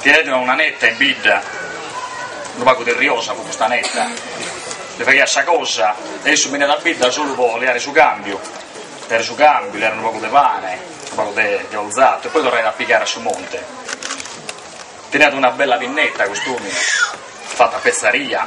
Teniat una netta in bidda, unu pagu derriosa pro custa netta, li faghiat sa cosa e issu beniat a bidda solu pro leare su cambiu, dare su cambiu, leare unu pagu de pane, unu pagu de orzatu e poi torrare a pigare a su monte. Teniat una bella pinnetta cust'omine, fatta a pezzaria,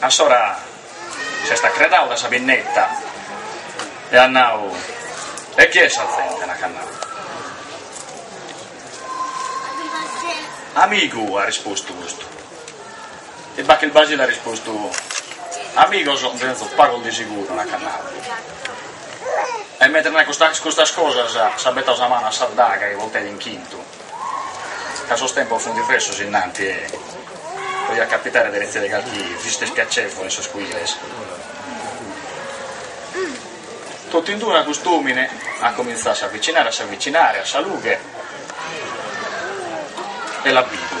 A s'ora s'est acheradu dae sa pinneta e at nadu, E chie est sa zente? At nadu. Amigu, at rispostu custu. E Bacchis Basile at rispostu, Amigos nde tenzo pagos de seguru, at nadu. E mentres naiat custas cosas s'at betadu sa manu a sa daga chi portaiat in chintu. Ca sos tempos fint diversos innanti e podiat capitare de retzire calchi visita ispiacevole in sos cuiles. Totinduna cust'omine at comintzadu a s'avitzinare, a s'avitzinare a sa lughe e l'at bidu.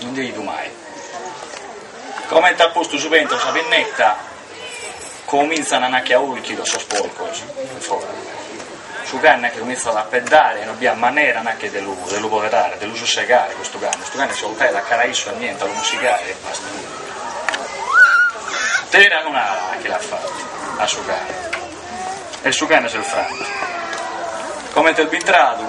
No nd'at bidu mai. Comente at postu su pe intro sa pinnetta, comintzan nachi a ùrchidos sos porcos in fora. Su cane nachi comintzat a apeddare e non bi at manera nachi de lu de lu poderare, de lu sussegare custu cane, custu cane si 'oltat a cara a issu e niente, a lu mussigare e basta. Terra nachi at fatu a su cane e su cane s'est frantu. Comente est bintradu.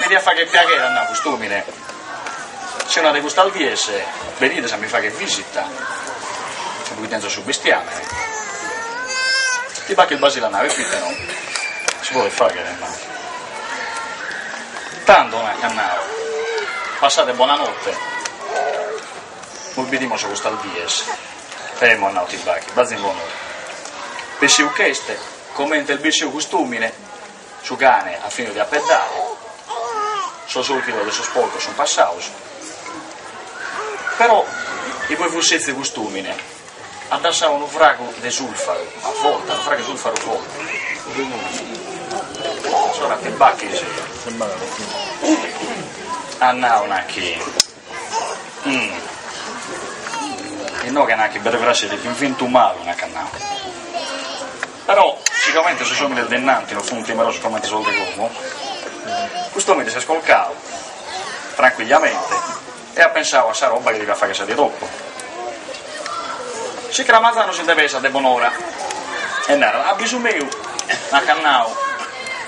Mi diat fagher piaghere at nadu cust'omine, si una de custas dies benides a mi fagher visita, imui tenzo su bestiamene, tiu Bacchis Basile a narrer chi no, si podet fagher ma. Tando nche at nadu, passade bona notte, nos bidimos custas dies, e emo at nadu tiu Bacchis, bazi in bonora, bessiu ch'est, comente est bessiu cust'omine Su cane at finidu de apeddare, sos ùrchidos de sos porcos sunt passados, però igue fut setzidu custùmine, at dassadu unu fragu de sulfaru forte, unu fragu de sulfaru forte, igue immoe a s'ora tiu Bacchis at nadu nachi. Inoghe nachi veramente b'est bentu malu nac'at nau. Però si comente sos omines de innanti no funt timerosos comente sos de como, cust'omine s'est colcadu tranquillamente e at pensadu a sa roba chi deviat fagher sa die dopo. S'incras manzanu si nde pesat de bonora e narat, a bisu meu nac'at nau,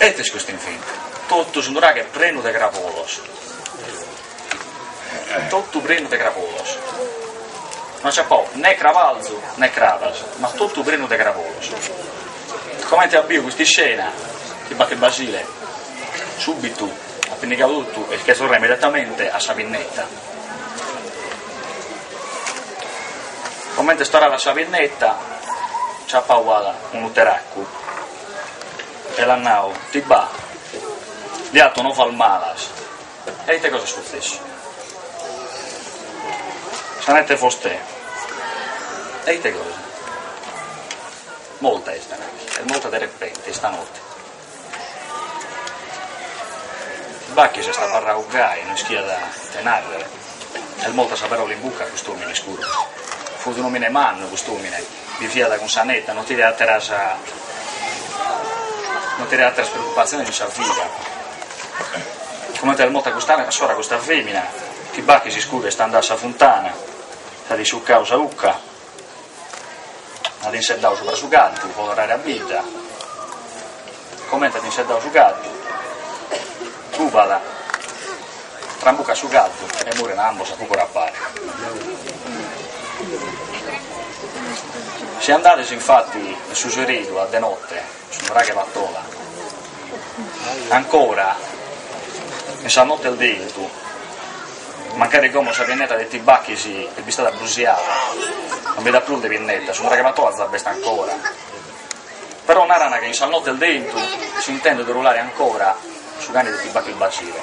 Et est custu infint. Totu su nuraghe est prenu de crabolos. Totu prenu de crabolos. Non c'at prus ne crabalzu ne crabas, ma totu prenu de crabolos. Comente at biu custa iscena, ti Bacchis Basile, subitu at pinnigadu totu e nche torrat immediatamente a sa pinnetta. Comente est torradu a sa pinneta, nch'at pau at unu teraccu e l'at nau, Ti Ba', ndi 'ato novas malas. E ite cosa est sutzessu? Sa neta 'e fostè. E ite cosa? Molta est, est molta de repente, istanotte. Bacchis est abarrau gai, no ischiat ite nàrrere, est morta sa pèrola in buca a cust'òmine s'iscuru. Fut un'òmine mannu cust'òmine, biviat cun sa neta, no teniat àteras no teniat àteras preocupatziones in sa vida. Comente est morta custa sora custa fèmina, ti Bacchis s'iscuru est andau a sa funtana, s'at isciucau sa 'ucca, At inseddau subra su caddu, po torrare a bidda. Comente at inseddau su caddu, trubat, trambucat su caddu e muren ambos a pag'ora a pare. Si andades infati in su seridu a de notte, Su nuraghe Patola, ancora in sas notes de intu, mancari como sa pinneta de ti Bacchis est bistada brusiada, non bi nd'at prus de pinneta, su nuraghe Patola za b'est ancora. Però naran chi in sas notes de 'entu s'intendet urulare ancora su cane de ti Bacchis Basile.